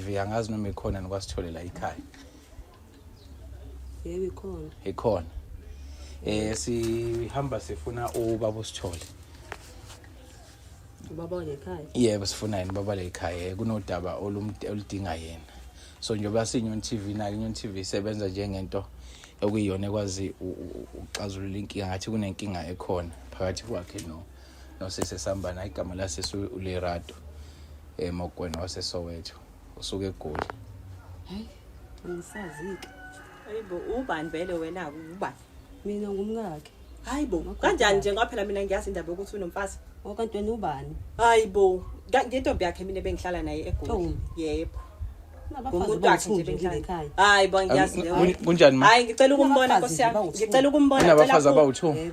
TV angazi noma ikhona nikwasitholela ikhaya yebo ikhona ikhona eh sihamba sifuna ubaba usithole ubaba lekhaya yebo sifuna yini baba lekhaya eh, kunodaba oludinga yena so njengoba sinyoni TV nayo inyoni TV isebenza njengento okuyiyona ekwazi uxazulula inkinga ngathi kunenkinga ekhona phakathi kwakhe no nosisi esambana hayi igama lasisi ulerato um eh, mokwena wasesoweto usuke egoli hayi angisazike hayi bo ubani vele wena ubani mina ngumkakhe hayi bo kanjani nje ngoba phela mina ngiyazi indaba yokuthi unomfazi okanti wena ubani hayi bo ngentombi yakhe mina bengihlala naye egoli yebo hayi bo ngiyazi kunjani ma hayi ngicela ukumbona nkosi yami ngicela ukumbona ngicela abawu-two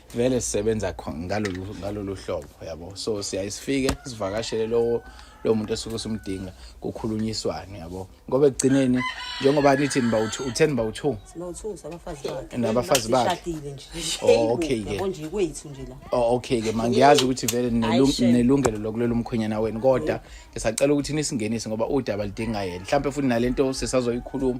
vele sisebenza ngalolu ngalolu hlobo yabo so siyaye sifike sivakashele lowo lowo muntu esuke simdinga kukhulunyiswane yabo ngoba ekugcineni njengoba nithi niba uthi u10 niba u2 sibawu2 sabafazi bakhe nabafazi bakhe shadile nje oh okay ke konje kwethu nje la oh okay ke mangiyazi ukuthi vele nelungelo lokulela umkhonyana wenu kodwa ngisacela ukuthi nisingenise ngoba udaba lidinga yena mhlawumbe futhi nalento sisazoyikhuluma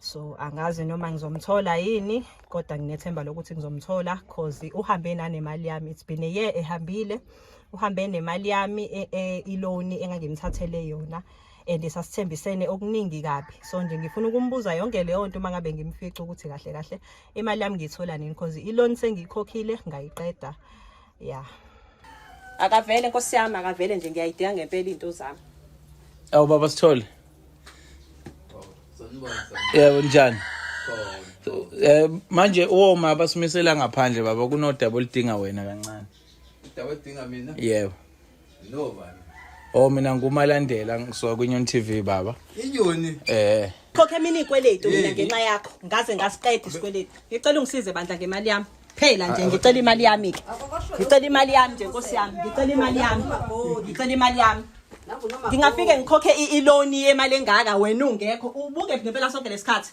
so angazi noma ngizomthola yini kodwa nginethemba lokuthi ngizomthola cause uhambe nanemali yami it's been a year ehambile uhambe nemali yami e, e, iloni engangimthathele yona and sasithembisene okuningi kabi so nje ngifuna ukumbuza yonke leyo nto uma ngabe ngimfica ukuthi kahle kahle imali yami ngiyithola nini because iloni sengiyikhokhile ngayiqeda ya akavele nkosi yami akavele nje ngiyayidinga ngempela iy'nto zami awu baba sithole yebo njani eh manje woma basimisela ngaphandle baba kunodaba oludinga wena kancane udaba oludinga mina yebo No bani. Oh mina ngumalandela ngisuka kwiNyon TV baba. Inyoni. Eh. Khokhe mina ikweletu mina ngenxa yakho. Ngaze ngasiqeda isikweletu. Ngicela ungisize bandla ngemali yami. Phela nje ngicela imali yami ke. Ngicela imali yami nje Nkosi yami. Ngicela imali yami. Ngicela imali yami. Ngingafike ngikhokhe i-loan yemali engaka wena ungekho. Ubuke ngempela sonke lesikhathi.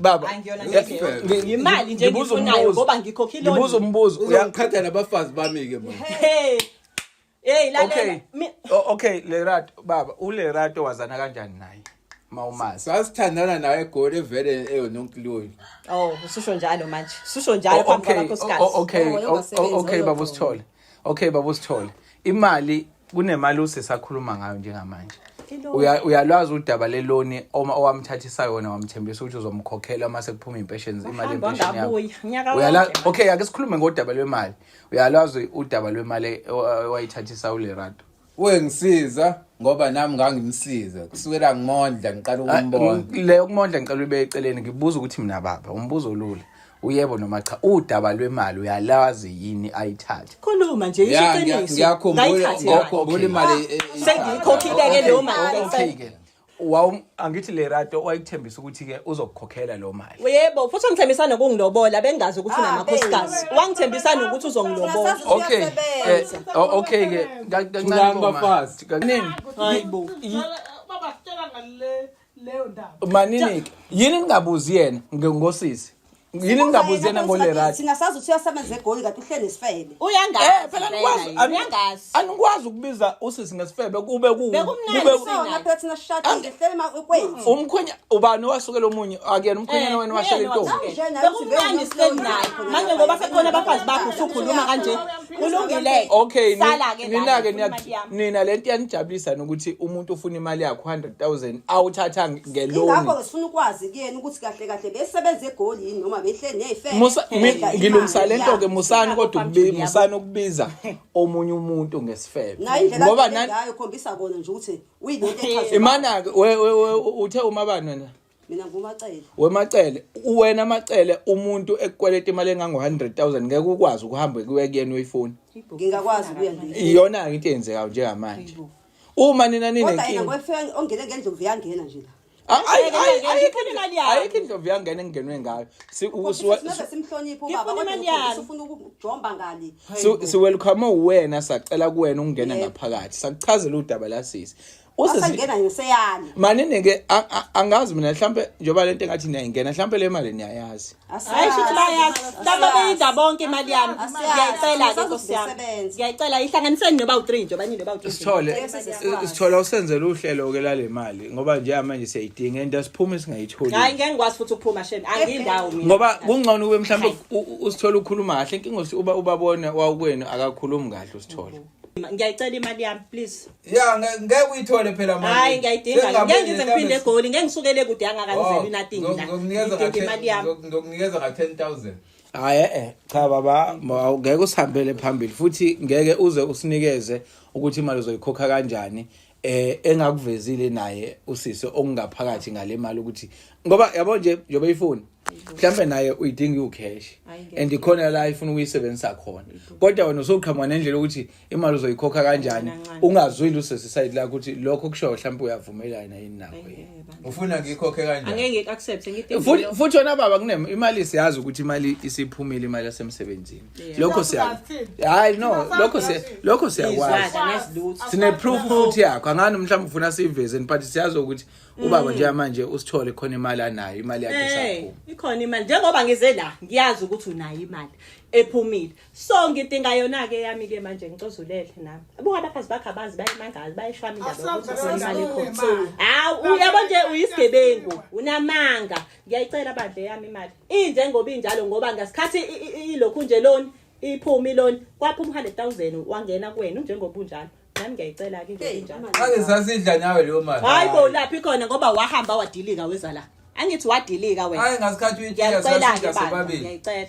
baba yimali nje ngifunayo ngoba ngikhokhile ngibuza umbuzo uyangiqhatha nabafazi bami ke manje hey hey la okay okay lerat baba ulerat wazana kanjani naye mawumazi sasithandana nawe egoli evele eyononkiloyi oh ususho njalo manje ususho njalo oh, phambi kwakho sikazi okay oh, oh, okay baba usithole Okay baba usithole. Imali kunemali usesakhuluma ngayo njengamanje. Uya- uyalwazi udaba leloni oma owamthathisa yona wamthembisa ukuthi uzomkhokhela uma sekuphuma impesheni imali Wahamba yempesheni yakho wangabuya, nyaka Uyala- wonke. okay ake sikhulume ngodaba lwemali uyalwazi udaba lwemali e- owayithathisa ulerato wengisiza ngoba nami ngangimsiza kusukela ngimondla ngiqala ah, ukumbona le ukumondla ngicela ube eceleni ngibuza ukuthi mina baba umbuzo olula uyebo noma cha udaba lwemali uyalazi yini ayithathe khuluma nje isho iqiniso ngiyakhumbula ngiyakhumbula imali eh, eh, sengiyikhokhile ke leyo mali wawu angithi le rato wayikuthembisa ukuthi ke uzokukhokhela lo mali yebo futhi wangithembisa nokungilobola bengazi ukuthi Ah, unamakhosikazi babe. wangithembisa nokuthi uzongilobola Sasa okay eh, siyasebenza. o- okay ke ka- kancane Thulani bo, ma. bafazi. Ka- Nini? hayi bo baba sitshela ngale leyo ndaba manini ke yini ningabuzi yena nge- ngosisi yini ningabuzi yena ngole right singasazi ukuthi uyasebenza egoli kanti uhleli nesifebe uyangazi eh phela nikwazi uyangazi anikwazi ukubiza usisi ngesifebe kube ku kube kusona phela thina shati ngehlele ma kwethu umkhwenya ubani wasukela omunye akuyena umkhwenyana wena washela intombi bekumnandi sihleli naye manje ngoba sekhona abafazi bakho usukhuluma kanje kulungile okay sala ke nina ke nina lento yanijabulisa nokuthi umuntu ufuna imali yakho 100000 awuthathanga ngeloni ingakho ke sifuna ukwazi kuyena ukuthi kahle kahle besebenza egoli yini noma behle nefe Musa mi- ngilungisa lento ke musani kodwa ukubi- musani ukubiza omunye umuntu ngesifebe nayo indlela ngoba abheke nani ngayo khombisa kona nje ukuthi uyinto echazwe imana ke we- we- we- uthe umabani wena mina ngumacele wemacele uwena amacele umuntu ekukweleta imali engango-100000 ngeke ukwazi ukuhambe kuye kuyena uyifuni ngingakwazi ukuya nje iyona-ke into eyenzekayo njengamanje uma nina kodwa yena ninenkinga kwefika ongene ngendlovu yangena nje la Ay- ay- Ngeke, ay- ngeke, ayikho ngifuna into- imali yami. ayikho indlovu yangena engenwe ngayo Si- u- Khombisa siwa- singaze simhloniphe Ngifuna ubaba kodwa imali ukhombisa yami. ufuna ukujomba ngani si- siwelcome uwena sacela kuwena ukungena Yebo. ngaphakathi sakuchazela udaba la sisi Usisi- asangena ngiseyani maninike a- a- angazi mina mhlampe njengoba lento engathi niyayingena mhlampe le mali niyayazi Hayi shuthi bayazi laba beyidla bonke imali yami ngiyayicela ke nkosi yami ngiyayicela ihlanganiseni noba u-3 nje obanye noba u-3 sithole sithole usenzele uhlelo ke lale mali ngoba nje manje siyayidinga and asiphuma singayitholi hayi ngeke ngikwazi futhi ukuphuma shem angiyindawo mina ngoba kungcono ube mhlawumbe usithole ukhuluma kahle inkinga uba ubabone wawukwenu akakhulumi kahle usithole ngiyayicela imali yami please ya ngeke uyithole phela manje hayi ngiyayidinga ngeke ngize ngiphinde egoli ngeke ngisukele kude angakanizeli nothing la ngidinga imali yami ngokunikeza ka 10000 hayi eh cha baba ngeke usihambele phambili futhi ngeke uze usinikeze ukuthi imali uzoyikhokha kanjani eh engakuvezile naye usisi okungaphakathi ngale mali ukuthi ngoba yabo nje njobe ifoni mhlambe naye uyidinga u cash and ikhona la ifuna ukuyisebenzisa khona kodwa wena usoqhamuka nendlela ukuthi imali uzoyikhokha kanjani ungazwile usisi side la ukuthi lokho kusho mhlambe uyavumelana yini nako yini ufuna ngikhokhe kanjani angeke ngiku accept ngithi futhi wena baba kunemali siyazi ukuthi imali isiphumile imali yasemsebenzini lokho siya hayi no lokho siya lokho siyakwazi sine proof futhi yakho angani mhlawumbe ufuna siveze but siyazi ukuthi ubaba mm. nje manje usithole khona imali anayo imali yakhe eh, sakho ikhona imali njengoba ngize la ngiyazi ukuthi unayo imali ephumile so ngidinga yona ke yami ke manje ngicozulele nami buka abaphazi bakhe abazi bayimangazi bayishwami ndaba ukuthi imali ikhona hawu uyabo nje uyisigebengu unamanga ngiyayicela bandle yami imali injengoba injalo ngoba ngasikhathi ilokhu nje loni iphumi loni kwaphuma 100000 wangena kuwena njengoba unjalo nami ngiyayicela ke nje injalo ake sasidla nawe leyo mali hayi bo laphi khona ngoba wahamba wadilika weza la angithi wadilika wena hayi ngasikhathi uyitshela sasidla sobabili ngiyayicela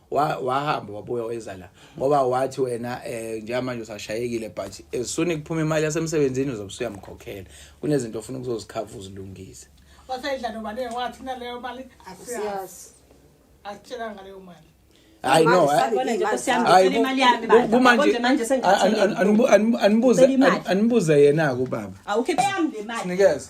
wahamba wabuya weza la ngoba wathi wena eh njengamanje usashayekile but as soon kuphuma imali yasemsebenzini uzobe usuyamkhokhela kunezinto ofuna ukuzozikhava uzilungise wasayidla nobani wathi naleyo mali asiyazi asitshela ngaleyo mali hayi no kumanje anibuze yena-ke ubaba sinikeze